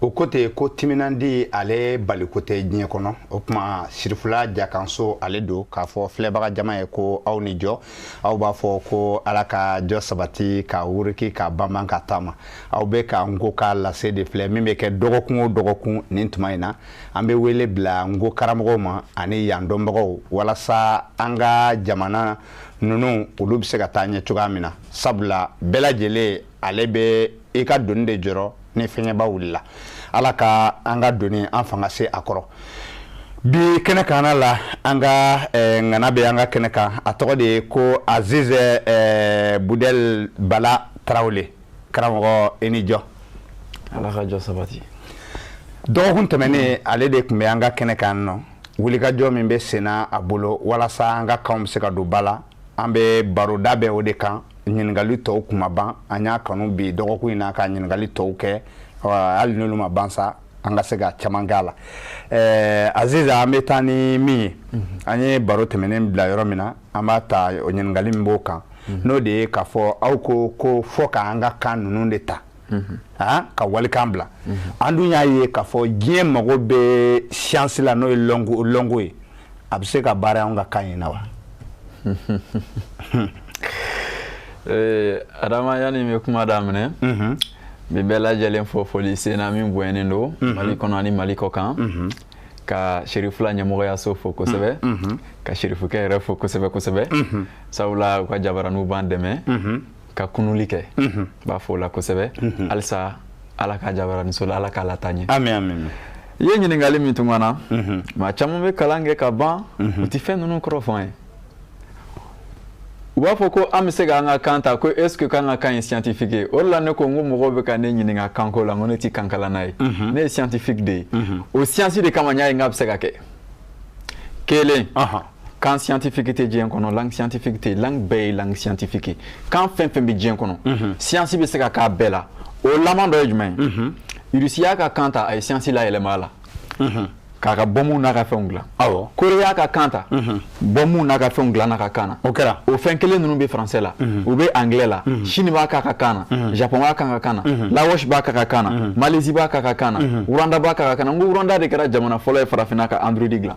o ko ten ko timinandi ale baliko tɛ diɲɛ kɔnɔ o tuma sirifula jakanso ale don k'a fɔ filɛbaga jama ye ko aw ni jɔ aw b'a fɔ ko ala ka jɔ sabati ka wuriki ka banban ka taama aw bɛ ka nko ka lase de filɛ min bɛ kɛ dɔgɔkun o dɔgɔkun nin tuma in na an bɛ wele bila nko karamɔgɔw ma ani yan dɔnbagaw walasa an ka jamana ninnu olu bɛ se ka taa ɲɛ cogoya min na sabula bɛɛ lajɛlen ale bɛ i ka doni de jɔrɔ ni fiɲɛba wulila ala ka an ka doni an fanga se a kɔrɔ bi kɛnɛ kanna la an ka eh, ŋana bɛ an ka kɛnɛ kan a tɔgɔ de ye ko azizɛ eh, budɛl bala tarawele karamɔgɔ i ni jɔ ala ka jɔ sabati dɔgɔkun tɛmɛnen ale de tun bɛ an ka kɛnɛ kan n'o wulikajɔ min bɛ senna a bolo walasa an ka kanw bɛ se ka don ba la an bɛ baro dabɛn o de kan ɲininkali tɔw tun ma ban an y'a kanu bi dɔgɔkun in na ka ɲininkali tɔw kɛ hali n'olu ma ban sa an ka se ka caman k'a la ɛɛ aziz an bɛ taa ni min ye mhm. an ye baro tɛmɛnen bila yɔrɔ min na an b'a ta ɲininkali min b'o kan mhm. n'o de ye k'a fɔ aw ko ko fo k'an ka kan ninnu de ta Ah, ka walikan bila an dun y'a ye k'a fɔ diɲɛ mago bɛ siyansi la n'o ye lɔnko ye a bɛ se ka baara an ka kan in na wa eh, adama yanni n bɛ kuma daminɛ mhm. n bɛ bɛɛ lajɛlen fo foli senna min bonyanen don mhm. mali kɔnɔ ani mali kɔkan mhm. ka serifula ɲɛmɔgɔyaso fo kosɛbɛ ka serifukɛ yɛrɛ fo kosɛbɛ kosɛbɛ sabula u ka jabaraninw b'an dɛmɛ ka kununni kɛ n b'a fo o la kosɛbɛ halisa ala k'a jabaraninso la ala k'a lataa ɲɛ i ye ɲininkali min kɛ n na maa caman bɛ kalan kɛ ka ban u tɛ fɛn ninnu kɔrɔ faamuya u b'a fɔ ko an bɛ se k'an ka kan ta ko est ce que k'an ka kan ye scientifique ye o de la ne ko n ko mɔgɔw bɛ ka ne ɲininka kanko la n ko ne tɛ kankalanna ye ne ye scientifique de ye o science de kama n y'a ye n k'a bɛ se ka kɛ kelen kan scientifique tɛ diɲɛ kɔnɔ langue scientifique tɛ langue bɛɛ ye langue scientifique ye kan fɛn fɛn bɛ diɲɛ kɔnɔ mhm. siyansi bɛ se ka k'a bɛɛ la o laman dɔ ye jumɛn ye mhm. irisi y'a ka kan ta a ye siyansi layɛlɛma a la mhm. k'a ka bɔnmu n'a ka fɛnw dilan awɔ kore y'a ka kan ta bɔnmu n'a ka fɛnw dilan n'a ka kan na o kɛra o fɛn kelen ninnu bɛ faransɛ la u bɛ anglais la sini b'a k'a ka kan na japon b'a k'a ka kan na laos b'a k'a ka kan na malaisie b'a k'a ka kan na rwanda b'a k'a ka kan na n ko rwanda de kɛra jamana fɔlɔ ye farafinna ka android dilan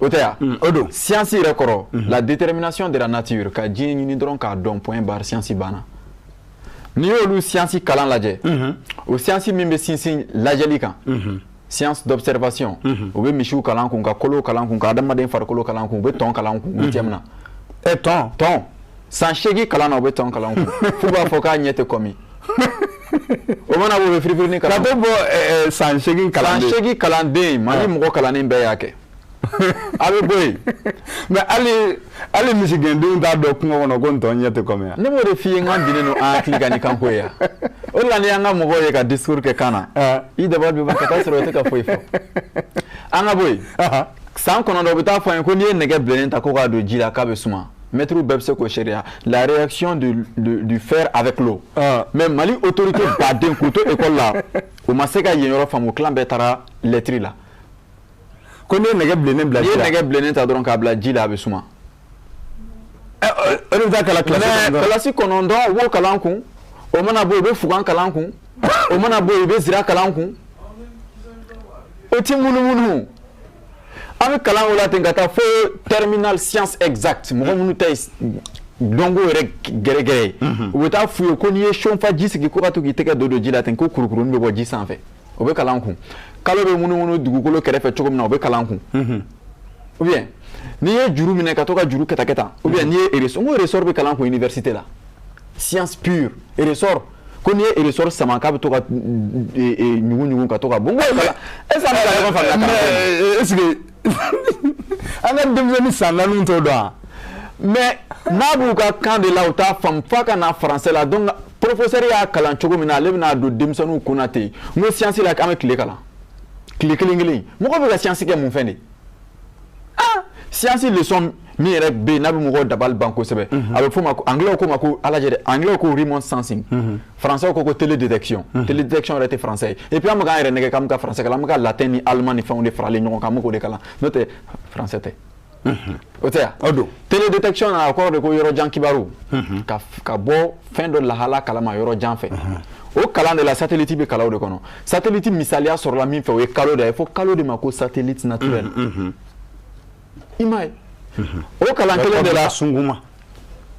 o tɛ yan mm, o don siyansi yɛrɛ kɔrɔ mm-hmm. la détermination de la nature ka diɲɛ ɲini dɔrɔn k'a dɔn point barre siyansi banna n'i y'olu siyansi kalan lajɛ mm-hmm. o siyansi min bɛ sinsin lajɛli kan mm-hmm. science d'observation u bɛ misiw kalan an kun ka kolow kalan an kun ka adamaden farikolo kalan an kun u bɛ tɔn kalan an kun u bɛ jɛmina ɛ tɔn tɔn san seegin kalan na u bɛ tɔn kalan an kun f'u b'a fɔ k'a ɲɛ tɛ kɔmi o mana bɔ o bɛ firifiri kalan ka to bɔ eh, eh, san seegin kalanden san seegin kalanden mali ah. mɔgɔ kalannen bɛɛ y'a kɛ a bɛ bɔ yen mais hali hali misigɛndenw t'a dɔn kungo kɔnɔ ko ntɔn ɲɛ tɛ kɔmi yan ne b'o de f'i ye n ka diinɛ don an hakili ka ni kan ko ye yan o de la n'i y'an ka mɔgɔw ye ka discours kɛ kan na ah. i dabali bɛ ban ka t'a sɔrɔ u tɛ ka foyi fɔ an ka bɔ yen san kɔnɔntɔn u bɛ taa fɔ an ye ko n'i ye nɛgɛ bilennen ta ko k'a don ji la k'a bɛ suma mɛtiriw bɛɛ bɛ se k'o seereya la réaction du, du, du fer avec l'eau ah. mais mali autorité baden k'u to école la u ma se ka yen yɔrɔ faamu kilan bɛɛ taara lettre la ko n'i ye nɛgɛ bilennen bila ji la n'i ye nɛgɛ bilennen ta dɔrɔn k'a bila ji la a bɛ suma eh, eh, o de bɛ taa kalan kilasi kɔnɔntɔn kilasi kɔnɔntɔn u b'o kalan kun o mana bɔ yen u bɛ fugan kalan kun o mana bɔ yen u bɛ zira kalan kun o ti munumunu an bɛ kalan o la ten ka taa fo terminal science exacte mɔgɔ minnu ta ye dɔnko yɛrɛ gɛrɛgɛrɛ ye u bɛ taa f'u ye ko n'i ye seau fa ji sigi ko ka to k'i tɛgɛ don don ji la ten ko kurukurunin bɛ bɔ ji sanfɛ o bɛ kalan kun kalo bɛ munumunu dugukolo kɛrɛfɛ cogo min na o bɛ kalan kun ou bien n'i ye juru minɛ ka to ka juru kɛtakɛta ou bien n'i ye ressort n ko ressort bɛ kalan kun université la science pure ressort ko n'i ye ressort sama k'a bɛ to ka ɲugu ɲugu ka to ka bon est ce que an bɛ ka ɲɔgɔn faamuya mais est ce que an ka denmisɛnnin san naaniw t'o dɔn wa mais n'a b'u ka kan de la u t'a faamu f'a ka na français la donc professeur y'a kalan cogo min na ale bɛna a don denmisɛnninw kun na ten n ko siyansi la k'an bɛ tile kalan tile kelen kelen mɔgɔ bɛ ka siyansi kɛ mun fɛn de siyansi leçon min yɛrɛ bɛ yen n'a bɛ mɔgɔw dabali ban kosɛbɛ a bɛ f'o ma ko angilɛw k'o ma ko a lajɛ dɛ angilɛw ko remote sensing françaisw ko ko télédétection télédétection yɛrɛ tɛ français ye et puis an bɛ k'an yɛrɛ nɛgɛn k'an bɛ ka français kalan an bɛ ka latin ni allemand ni fɛnw de faralen ɲɔgɔn kan an bɛ k'o de kalan n'o tɛ français tɛ o tɛ yan o don télédétection na a kɔrɔ de ko yɔrɔ jan kibaru ka ka bɔ fɛn dɔ lahala kala ma yɔrɔ jan fɛ o kalan de la satellite bɛ kalan o de kɔnɔ satellite misaliya sɔrɔla min fɛ o ye kalo de ye fɔ kalo de ma ko satellite naturel i m'a ye o kalan kelen de la sunguma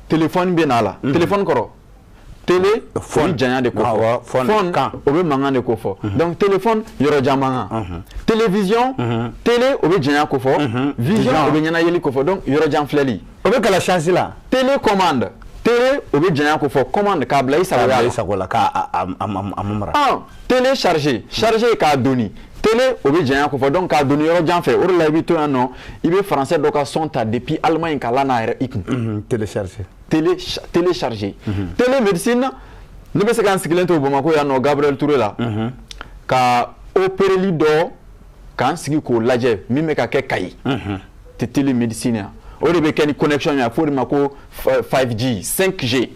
telefɔni bɛ na a la telefɔni kɔrɔ tele o bɛ janya de ko fɔ fɔn o bɛ mankan de ko fɔ donc telefɔni yɔrɔjan mankan television tele o bɛ janya ko fɔ vision o bɛ ɲɛnayeli ko fɔ donc yɔrɔjan filɛli o bɛ kalan science la télécommande télé o bɛ janya ko fɔ commande k'a bila i sago la i sago la k'a a a mara ah télécharger charger k'a doni télé o bɛ janya ko fɔ donc k'a doni yɔrɔ jan fɛ o de la i bɛ to yan nɔ i bɛ français dɔ ka son ta depuis Allemagne k'a lana yɛrɛ i kun télécharger télé télécharger télémédecine ne bɛ se ka n sigilen to Bamakɔ yan nɔ Gabriel Touré la ka opereli dɔ k'an sigi k'o lajɛ min bɛ ka kɛ kayi télémédecine yan o de bɛ kɛ ni connection ye a fɔ o de ma ko 5G 5G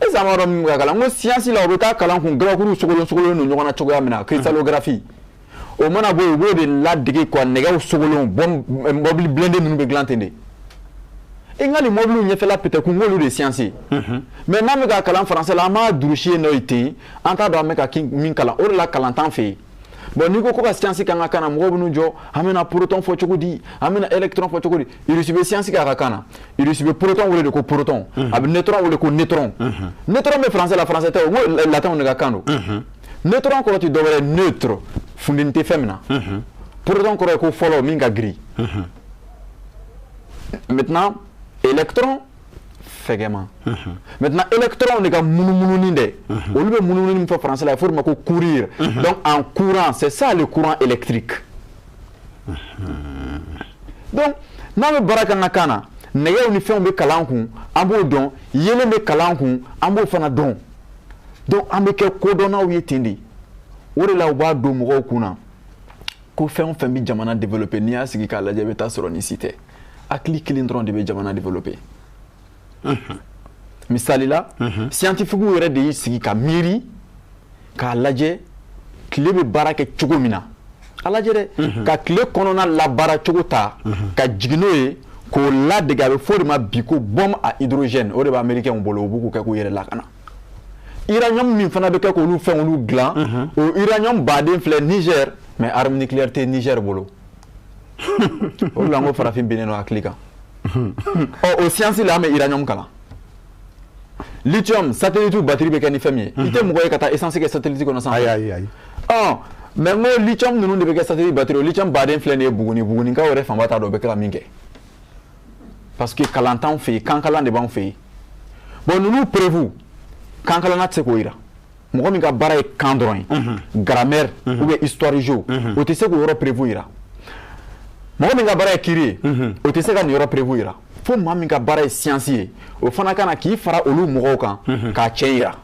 e zan b'a dɔn min bɛ ka kalan n ko science la o bɛ taa kalan kun gabakuruw sogolon sogolon don ɲɔgɔn na cogoya min na cristallographie o mana bɔ yen u b'o de ladege quoi nɛgɛw sogolon bɔn mɔbili blindé ninnu bɛ dilan ten de i ka nin mɔbiliw ɲɛfɛla pɛtɛkun n k'olu de ye science ye mais n'an bɛ ka kalan français la an b'a durusi yen nɔ yen ten an t'a dɔn an bɛ ka min kalan o de la kalan t'an fɛ yen bɔn n'i ko ko ka siyansi k'an ka kan na mɔgɔw bɛn'u jɔ an bɛna porotɔn fɔ cogo di an bɛna ɛlɛkitɔrɔn fɔ cogo di irisi bɛ siyansi kɛ a ka kan na irisi bɛ porotɔn wele de ko porotɔn a bɛ netɔrɔn wele ko netɔrɔn netɔrɔn bɛ faransɛ la faransɛ tɛ o ko latɛnw de ka kan don netɔrɔn kɔrɔ tɛ dɔwɛrɛ neutre funteni tɛ fɛn min na porotɔn kɔrɔ ye ko fɔlɔ min ka girin maintenant électron fɛgɛma maintenant électron de ka munumununi dɛ olu bɛ munumununi min fɔ français la a bɛ fɔ o de ma ko courir donc en courant c'est ça le courant électrique donc n'an bɛ baara kɛ an ka kan na nɛgɛw ni fɛnw bɛ kalan kun an b'o dɔn yeelen bɛ kalan kun an b'o fana dɔn donc an bɛ kɛ kodɔnnaw ye ten de o de la u b'a don mɔgɔw kun na ko fɛn o fɛn bɛ jamana développer n'i y'a sigi k'a lajɛ i bɛ t'a sɔrɔ nin si tɛ hakili kelen dɔrɔn de bɛ jamana développer misali la siyantifikiw yɛrɛ de y'i sigi ka miiri k'a lajɛ tile bɛ baara kɛ cogo min na a lajɛ dɛ ka tile kɔnɔna labaara cogo ta ka jigin n'o ye k'o ladege a bɛ fɔ o de ma bi ko bombe à hydrogène o de bɛ amerikɛnw bolo u bɛ k'o kɛ k'u yɛrɛ lakana uranium min fana bɛ kɛ k'olu fɛn olu dilan o uranium baden filɛ Niger mais arme nucléaire tɛ Niger bolo. o de la n ko farafin binnen don hakili kan ɔ o siyansi la an bɛ uranium kalan lithium satellite batiri bɛ kɛ ni fɛn min ye i tɛ mɔgɔ ye ka taa essence kɛ satellite kɔnɔ sanfɛ ayi ayi ayi ɔ mais n ko lithium ninnu de bɛ kɛ satellite batiri o lithium baden filɛ nin ye buguni bugunikaw yɛrɛ fanba t'a dɔn o bɛ kɛ ka min kɛ parce que kalan t'anw fɛ yen kankalan de b'anw fɛ yen bɔn ninnu preuve kankalanna tɛ se k'o jira mɔgɔ min ka baara ye kan dɔrɔn ye grammaire ou bien histoire géo o tɛ se k'o yɔrɔ preuve yira mɔgɔ min ka baara ye kiri ye o tɛ se ka nin yɔrɔ preuve yira fo maa min ka baara ye siyansi ye o fana ka na k'i fara olu mɔgɔw kan k'a tiɲɛ yira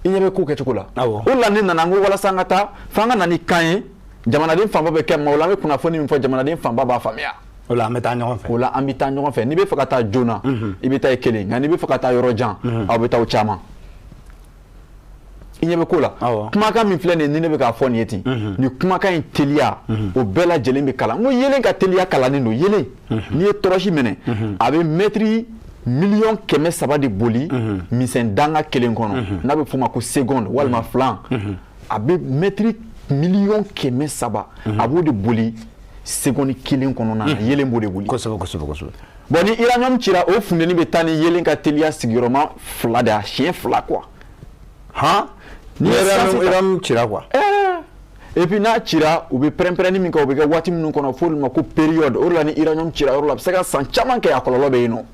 i ɲɛ bɛ ko kɛcogo la o de la ne nana n ko walasa an ka taa f'an ka na ni kan ye jamanaden fanba bɛ kɛ maaw la an bɛ kunnafoni min fɔ jamanaden fanba b'a faamuya o la an bɛ taa ɲɔgɔn fɛ o la an bɛ taa ɲɔgɔn fɛ n'i bɛ fɛ ka taa joona i bɛ taa i kelen nka n'i bɛ fɛ ka taa yɔrɔ jan aw bɛ taa aw caman i ɲɛ bɛ ko la kumakan min filɛ nin ni ne bɛ k'a fɔ nin ye ten nin kumakan in teliya o bɛɛ lajɛlen bɛ kalan n ko yelen ka teliya kalannen don yelen n'i ye tɔrɔsi mɛnɛ a bɛ mɛtiri miliyɔn kɛmɛ saba de boli misɛn danga kelen kɔnɔ n'a bɛ f'o ma ko seconde walima filan a bɛ mɛtiri miliyɔn kɛmɛ saba a b'o de boli seconde kelen kɔnɔna na hmm. yelen b'o de boli kosɛbɛ kosɛbɛ kosɛbɛ bon ni uranium cira o funteni bɛ taa ni yelen ka teliya sigiyɔrɔma fila de a siɲɛ fila quoi han ni uranium cira quoi eh. et puis n'a cira u bɛ pɛrɛnpɛrɛnni min kɛ o bɛ kɛ waati minnu kɔnɔ f'olu ma ko période o de la ni uranium cira yɔrɔ la a bɛ se ka san caman kɛ a kɔlɔlɔ bɛ yen nɔ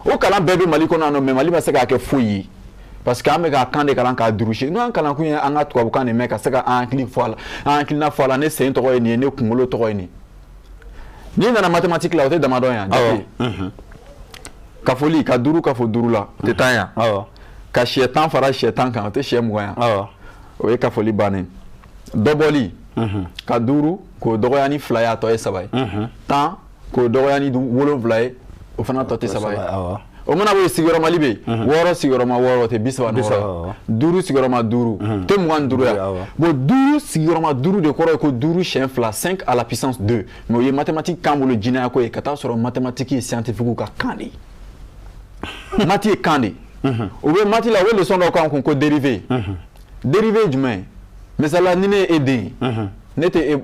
o kalan bɛɛ bɛ mali kɔnɔ yan nɔ mais mali ma se k'a kɛ foyi ye parce que an bɛ k'a kan de kalan k'a durusi n'an kalan kun ye an ka tubabukan de mɛn ka se ka an hakili fɔ a la an hakilina fɔ a la ne sen tɔgɔ ye nin ye ne kunkolo tɔgɔ ye nin n'i nana mathématique la o tɛ damadɔn yan jate mhm. kafoli ka duuru kafo duuru la o tɛ tan yan ka siyɛ tan fara siyɛ tan kan o tɛ siyɛ mugan yan o ye kafoli bannen dɔbɔli mhm. ka duuru k'o dɔgɔya ni fila ye a tɔ ye saba ye mhm. tan k'o dɔgɔya ni wolonwula ye o fana tɔ tɛ saba ye o mana bɔ sigiyɔrɔma bɛ yen mhm. wɔɔrɔ sigiyɔrɔma wɔɔrɔ tɛ bi saba ni wɔɔrɔ duuru sigiyɔrɔma duuru mhm. tɛ mugan duuru ya bon duuru sigiyɔrɔma duuru de kɔrɔ ye ko duuru siɲɛ fila cinq à la puissance deux mais o ye mathématique k'an bolo jinɛya ko ye ka t'a sɔrɔ mathématique ye scientifique ka kan de ye mati ye kan de ye mhm. u bɛ mati la u bɛ leçon dɔ k'an kun ko dérivé dérivé ye jumɛn ye misaliya ni ne ye e den ye ne tɛ e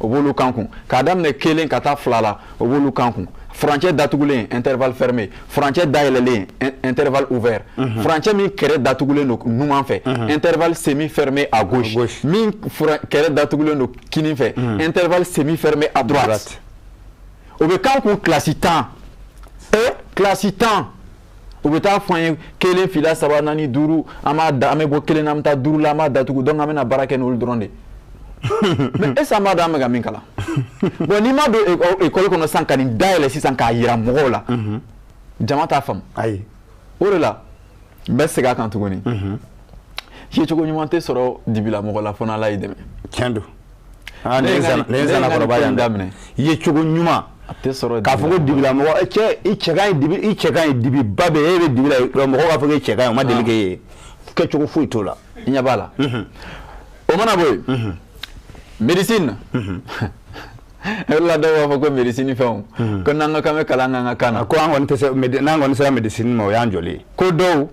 u b'olu k'an kun k'a daminɛ kelen ka taa fila la u b'olu k'an kun furancɛ datugulen intervalle fermé furancɛ dayɛlɛlen intervalle ouvert mhm. furancɛ min kɛrɛ datugulen don numan fɛ mhm. intervalle semi fermé à gauche min kɛrɛ datugulen don kinin fɛ mhm. intervalle semi fermé à droite o bɛ k'an kun kilasi tan kilasi tan u bɛ t'a fɔ an ye kelen fila saba naani duuru an b'a da an bɛ bɔ kelen na an bɛ taa duuru la an b'a datugu donc an bɛna baara kɛ n'olu dɔrɔn de mais est-ce an b'a dɔn an bɛ ka min kalan bon n'i ma don ekɔli kɔnɔ sisan ka nin dayɛlɛ sisan k'a jira mɔgɔw la jama t'a faamu ayi o de la n bɛ segin a kan tuguni yecogo ɲuman tɛ sɔrɔ dibila mɔgɔ la fo n'ala y'i dɛmɛ tiɲɛ don Ah, ne ye nakɔrɔba yan daminɛ i yecogo ɲuman k'a fɔ ko dibila mɔgɔ eh, cɛ i cɛ ka ɲi dibi i cɛ ka ɲi dibi ba bɛ e bɛ dibi la mɔgɔ b'a fɔ k'e cɛ ka ɲi o ma deli k'e ye kɛcogo foyi t'o la i ɲɛ b'a la mhm. o mana bɔ yen mhm. médecine mhm. e la dɔw b'a fɔ ko médecine fɛnw ko n'an ka kan bɛ kalan k'an ka kan na ko an kɔni tɛ se n'an kɔni sera médecine ma o y'an jɔlen ye ko dɔw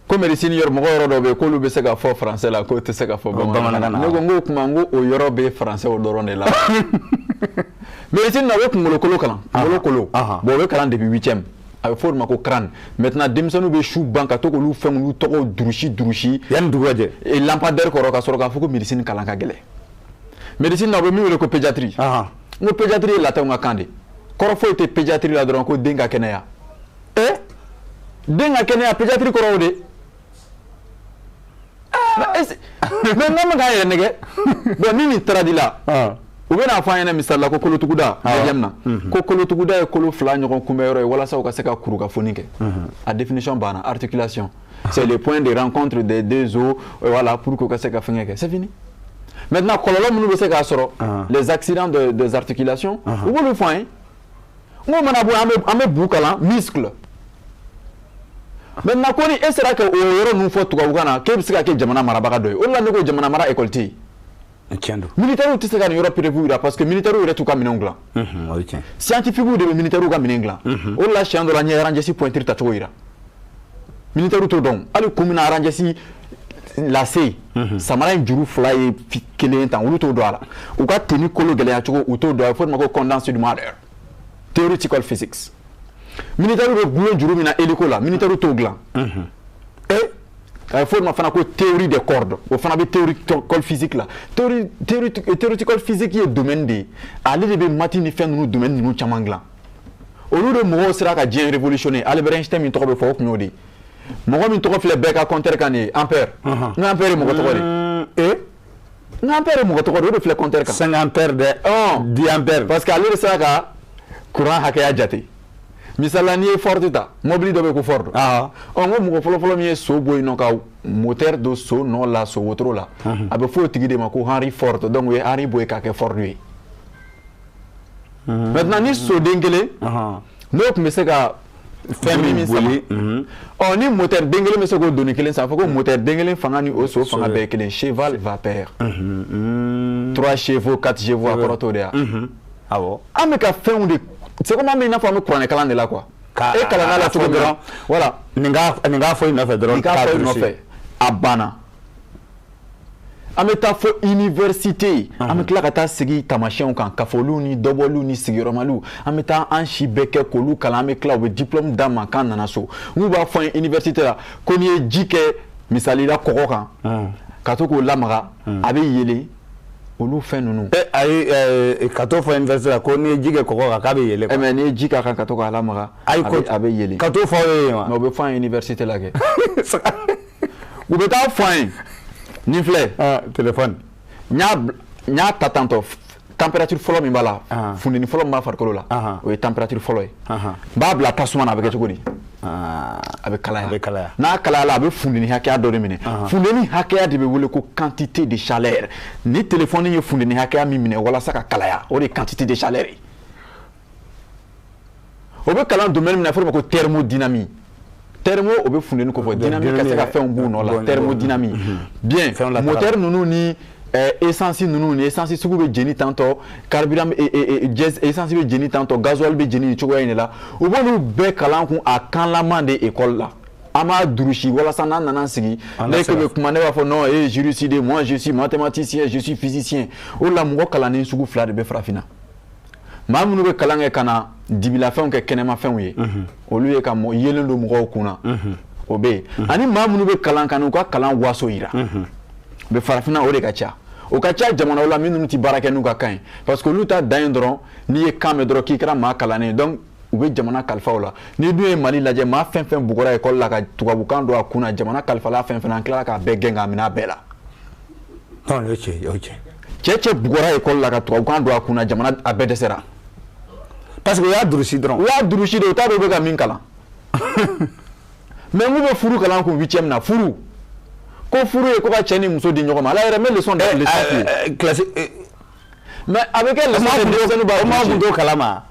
ko médecine yɔrɔ mɔgɔ yɔrɔ dɔ bɛ yen k'olu bɛ se ka fɔ français la k'o tɛ se ka fɔ bamanankan na ne ko n k'o tuma n ko o yɔrɔ bɛ français o dɔrɔn de la médecine na o bɛ kunkolokolo kalan kunkolokolo bon o bɛ kalan depuis huitième a bɛ fɔ o de ma ko crâne maintenant denmisɛnninw bɛ su ban ka to k'olu fɛn olu tɔgɔw durusi durusi yanni dugu ka jɛ e, lampadaire kɔrɔ ka sɔrɔ k'a fɔ ko médecine kalan ka gɛlɛn médecine na u bɛ min wele ko pédiatrie n ko pédiatrie ye latinw ka kan de kɔrɔ foyi tɛ pédiatrie la dɔrɔn ko den ka kɛnɛya ee den ka kɛnɛya pédiatrie kɔrɔ o de mais an man k'an yɛrɛ nɛgɛn bon ni nin taara di la u bɛna'a fɔ an ɲɛna misala la ko kolotuguda na ko kolotuguda ye kolo fila ɲɔgɔn kunbɛn yɔrɔ ye walasa ka se ka kuru ka foni kɛ a définition banna articulation c'est le point de rencontre des deux os euh, voilà pour que ka se ka fɛngɛ kɛ c'est fini maintenant kɔlɔlɔ minnu bɛ se k'a sɔrɔ les accidents de, des articulations uh -huh. u b'olu fɔ an ye n'o mana bɔ an bɛ an bɛ bu kalan muscle maintenant ko ni e sera ka o yɔrɔ ninnu fɔ tubabukan na k'e bɛ se ka kɛ jamana marabaga dɔ ye o de la ne ko jamana mara école tɛ yen. tiɲɛ don militaires tɛ se ka nin yɔrɔ preuve jira parce que militaires yɛrɛ t'u ka minɛnw dilan. o ye tiɲɛ. scientifiques de bɛ militaires ka minɛn dilan. o de la siɲɛ dɔ la n ye rangers pointure tacogo jira. Militaire t'o dɔn hali ko min rangers lacet samara in juru fila ye kelen ta olu t'o dɔn a la u ka tenue kolo gɛlɛyacogo u t'o dɔn a bɛ fɔ o ma ko condensed theoretical physics militaire bɛ bulon juru min na e ko la militaire t'o dila e a bɛ fɔ o ma fana ko théorie des cordes donc o fana bɛ theoretical physics la theoretical physics ye domaine de ye ale de bɛ maths ni fɛn ninnu domaine ninnu caman dila olu de mɔgɔw sera ka diɲɛ révolutionner Albert Einstein min tɔgɔ bɛ fɔ o tun y'o de ye mɔgɔ min tɔgɔ filɛ bɛɛ ka compteur kan nin ye ampère n ko ampère ye mɔgɔ tɔgɔ de ye ee n ko ampère ye mɔgɔ tɔgɔ de ye o de filɛ compteur kan cinq ampère dɛ dix ampère parce que ale de sera ka courant hakɛya jate misala n'i ye ford ta mɔbili dɔ bɛ ko ford ɔ n ko mɔgɔ fɔlɔfɔlɔ min ye so bɔ yen nɔ ka moteur don so nɔ la so wotoro la a bɛ fɔ o tigi de ma ko henry ford donc o ye henry bɔ yen k'a kɛ ford ye maintenant ni soden kelen n'o tun bɛ se ka fɛn min boli ɔ ni moteur den kelen bɛ se k'o doni kelen sama fɔ ko moteur den kelen fanga ni o so fanga bɛɛ kelen cheval vapeur trois chevaux quatre chevaux a kɔrɔ t'o de ye wa an bɛ ka fɛnw de segu min n'a fɔ an bɛ kuranɛ kalan de la qu e kalan la cogo dɔrɔn voilà nin fɔ nɔfɛ dɔrɔn nɔfɛ a banna an bɛ taa fo université an bɛ tila ka taa sigi tamasiyɛnw kan kafoliw ni dɔbɔliw ni sigiyɔrɔmaliw an bɛ taa an si bɛɛ kɛ k'olu kalan an bɛ tila u bɛ diplôme d'an ma k'an nana so n'u b'a fɔ an ye université la ko n'i ye ji kɛ misali la kɔgɔ kan ka to k'o lamaga a bɛ yeelen olu fɛn ninnu ayi k'a t'o fɔ université la ko n'i ye ji kɛ kɔgɔ kan k'a bɛ yeelen eh, mais n'i ye ji k'a kan ka to k'a lamaga a bɛ yeelen k'a t'o fɔ aw ye yen wa mais o bɛ fɔ an ye université la kɛ u bɛ taa a fɔ an ye nin filɛ ah, telefɔni n y'a ta tantôt température fɔlɔ min b'a la ah. funteni fɔlɔ min b'a farikolo la ah. o ye température fɔlɔ ye n b'a bila tasuma na a bɛ kɛ cogo di a bɛ kalaya n'a kalayala a bɛ funteni hakɛya dɔ de minɛ funteni hakɛya de bɛ wele ko quantité de chaleur ni telefɔni ye funteni hakɛya min minɛ walasa ka kalaya o de ye quantité de chaleur ye o bɛ kalan domaine min na a fɔra o ma ko thermodynamie thermo o bɛ funteni kofɔ dynamique ka se ka fɛnw b'u nɔ la thermodynamie bien moteur ninnu ni eh, essence ninnu ni essence sugu bɛ jeni tantôt carburant eh, eh, eh essence bɛ jeni tantôt gasoil bɛ jeni nin cogoya in de la u b'olu bɛɛ kalan kumakanlama de école la an b'a durusi walasa n'an nana sigi ne ko bɛ kuma ne b'a fɔ non e ye juriste de moi je suis mathématicien je suis physicien o de la mɔgɔ kalannen sugu fila de bɛ farafinna maa minnu bɛ kalan kɛ ka na dibilafɛnw kɛ kɛnɛmafɛnw ye olu ye ka mɔ yeelen don mɔgɔw kun na o bɛ yen ani maa minnu bɛ kalan ka n'u ka kalan waso jira u bɛ farafinna o de ka ca o ka ca jamana la minnu tɛ baara kɛ n'u ka kan parce que olu ta da in dɔrɔn n'i ye kan dɔrɔn k'i kɛra maa kalannen dɔn u bɛ jamana kalifa i la n'i dun ye mali lajɛ maa fɛn fɛn bla ka tubabukan don a kun jamana kalifala fɛn fana tila k'a bɛɛ gɛn k'a minɛ bɛɛ la cɛ cɛ bugɔra école la ka tubabukan don a kun na jamana a bɛɛ dɛsɛra parce que u y'a durusi dɔrɔn u y'a durusi de u t'a dɔn u bɛ ka min kalan mais n'u bɛ furu kalan kun huitième na furu ko furu ye ko ka cɛ ni muso di ɲɔgɔn ma ala yɛrɛ n bɛ leçon da leçon f'i ye classe mais a bɛ kɛ la kalama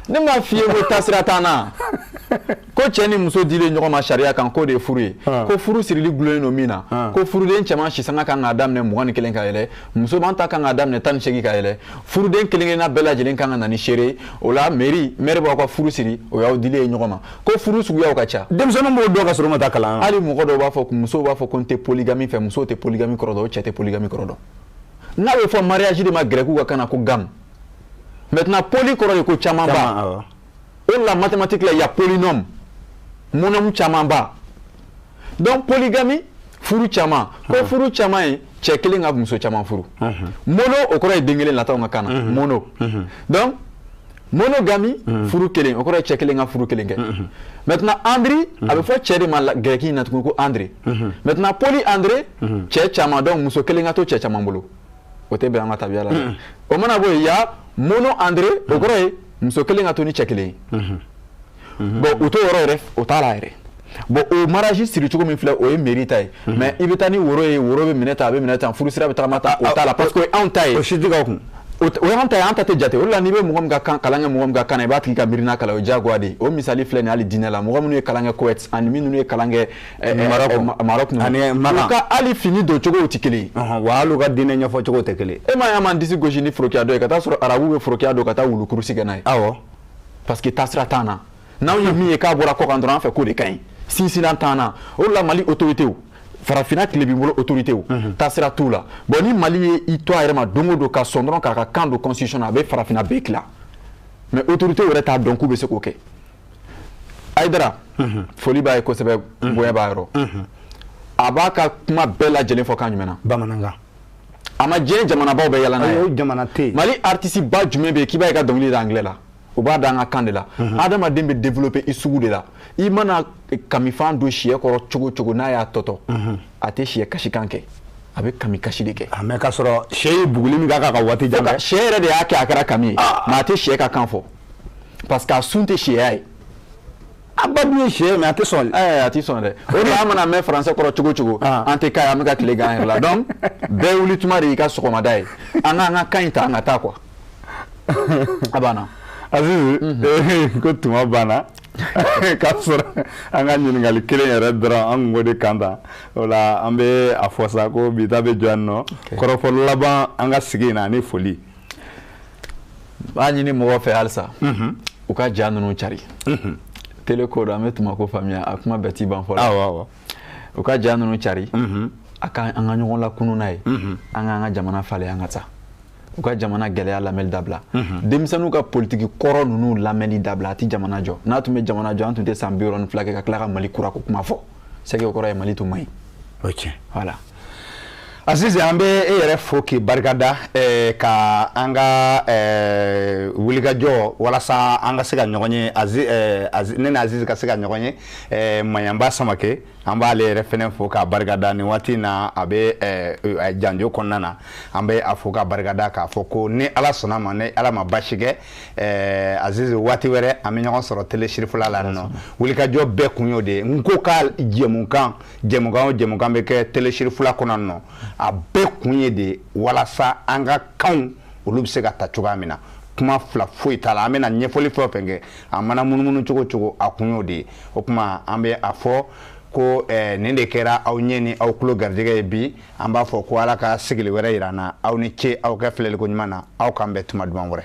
ne ma fi ko tasira tan na ko cɛ ni muso di ɲɔgɔn ma sariya kan k'o de ye furu ye ko furu sirili dulonnen don min na ko furuden cɛman si kan k'a daminɛ mugan ni kelen ka yɛlɛ musoman ta kan k'a daminɛ tan ni segin ka yɛlɛ furuden kelenkelenna bɛɛ lajɛlen kan ka na ni seere o la maire min b'aw ka furu siri o y'aw di ɲɔgɔn ma ko furu suguya ka ca denmisɛnnin b'o dɔn ka sɔrɔ a ma taa kalan hali mɔgɔ dɔw b'a fɔ muso b'a fɔ ko n tɛ polygamie fɛ muso tɛ polygamie kɔrɔ cɛ tɛ polygamie kɔrɔ dɔn n'a bɛ fɔ mariage de ma grɛkiw ka kan na ko gamme maintenant poly kɔrɔ ye ko camanba o de la mathématique la y a polynôme monôme camanba donc polygamie furu caman ko furu caman ye cɛ kelen ka muso caman furu mono o kɔrɔ ye den kelen latinw ka kan na mono donc Monogamie furu kelen o kɔrɔ ye cɛ kelen ka furu kelen kɛ maintenant andré a bɛ fɔ cɛ de ma gɛrɛki la tugun ko andré maintenant poly andré cɛ caman donc muso kelen ka to cɛ caman bolo o tɛ bɛn an ka tabiya la o mana bɔ yan mono andré o kɔrɔ ye muso kelen ka to ni cɛ kelen mhm. bon u t'o yɔrɔ yɛrɛ o t'a la yɛrɛ bon o mariage siri cogo min filɛ o ye mairie ta ye mhm. mais i bɛ taa ni woro ye woro bɛ minɛ tan a bɛ minɛ tan furusira bɛ tagama tan o t'a la parce que o ye anw ta ye o si tɛ ka kun o y'an ta ye an ta tɛ jate o de la n'i bɛ mɔgɔ min ka kan kalan kɛ mɔgɔ min ka kan na i b'a tigi ka miirina kalan o ye diyagoya de ye o misali filɛ nin ye hali diinɛ la mɔgɔ minnu ye kalan kɛ Koweït ani minnu ye kalan kɛ eh, eh, Maroc eh, ninnu u ka hali fini don cogow tɛ kelen ye wa hali u ka diinɛ ɲɛfɔ cogo tɛ kelen ye e m'a ye an b'an disi gosi ni forokiya don ye ka taa sɔrɔ arabuw bɛ forokiya don ka taa wulukurusi kɛ n'a ye awɔ parce que taasira t'an na n'anw ye min ye k'a bɔra kɔkan dɔrɔn an fɛ k'o de ka ɲi sinsinnan t'an na o de la mali autoritéw farafinna tilebin bolo autoritéw mhm. taasira t'u la bon ni mali ye i to a yɛrɛ ma don o don ka sɔn dɔrɔn k'a ka kan don constitution na a bɛ farafinna bɛɛ tila mais autorité yɛrɛ t'a dɔn k'u bɛ se k'o kɛ Haidara mhm. foli b'a ye kosɛbɛ mhm. bonya b'a yɔrɔ a b'a ka kuma bɛɛ lajɛlen fɔ kan jumɛn na bamanankan a ma diɲɛ jamanabaw bɛɛ yaala n'a ye jamana tɛ mali artiste ba jumɛn bɛ yen k'i bɛ i ka dɔnkili da anglais la u b'a da an ka kan de la adamaden bɛ développer i sugu de la i mana kamifan don siyɛ kɔrɔ cogo o cogo n'a y'a tɔtɔ a tɛ siyɛ kasikan kɛ a bɛ kami kasi de kɛ ah, mais k'a sɔrɔ sɛ ye buguli min k'a kan ka waati jan kɛ sɛ yɛrɛ de y'a kɛ a kɛra kami ye ah. mais a tɛ sɛ ka kan fɔ parce que a sun tɛ sɛya ye a ba dun ye sɛ ye mais a tɛ sɔn ɛɛ a tɛ sɔn dɛ o de la an mana mɛn français kɔrɔ cogo o cogo ah. an tɛ k'a ye an bɛ ka tile kɛ an yɛrɛ la donc bɛɛ wuli tuma de y'i ka sɔgɔmada ye an k'an ka kan in ta an ka taa quoi a banna Azizi mhm. ko tuma banna k'a sɔrɔ an ka ɲininkali kelen yɛrɛ dɔrɔn an kun b'o de kan ta o la an bɛ a fɔ sa ko bi ta bɛ jɔ yan nɔ kɔrɔfɔ laban an ka sigi in na ani foli b'a ɲini mɔgɔw fɛ halisa u ka ja ninnu cari tele ko don an bɛ tuma ko faamuya a kuma bɛɛ t'i ban fɔlɔ u ka ja ninnu cari a ka an ka ɲɔgɔn lakunun n'a ye an k'an ka jamana falen an ka taa u ka jamana gɛlɛya lamɛnni dabila denmisɛnninw ka politiki kɔrɔ ninnu lamɛnni dabila a tɛ jamana jɔ n'a tun bɛ jamana jɔ an tun tɛ san bi wɔɔrɔ ni fila kɛ ka tila ka mali kura ko kuma fɔ c'est que o kɔrɔ ye mali tun man ɲi o tiɲɛ voilà Azizi an bɛ e yɛrɛ fo k'i barikada eh, ka an ka eh, wulikajɔ walasa an ka se ka ɲɔgɔn ye eh, ne ni Azizi ka se ka ɲɔgɔn ye Maɲanba Samake an b'ale yɛrɛ fɛnɛ fo k'a barikada nin waati in na a bɛ janjo kɔnɔna na an bɛ a fo k'a barikada k'a fɔ ko ni Ala sɔnna a ma ni Ala ma basi kɛ Azizi waati wɛrɛ an bɛ ɲɔgɔn sɔrɔ telesirifila la yan nɔ wulikajɔ bɛɛ kun y'o de ye Nko ka jɛmukan jɛmukan o jɛmukan bɛ kɛ telesiri fila kɔnɔnɔ a bɛɛ kun ye de walasa an ka kanw olu bɛ se ka ta cogoya min na kuma fila foyi t'a la an bɛna ɲɛfɔli fɛn o fɛn kɛ a mana munumunu cogo cogo a kun y'o de ye o tuma an bɛ a fɔ ko eh, nin de kɛra aw ɲɛ ni aw tulo garijɛgɛ ye bi an b'a fɔ ko ala ka sigili wɛrɛ yira an na aw ni ce aw ka filɛliko ɲuman na aw k'an bɛn tuma duman wɛrɛ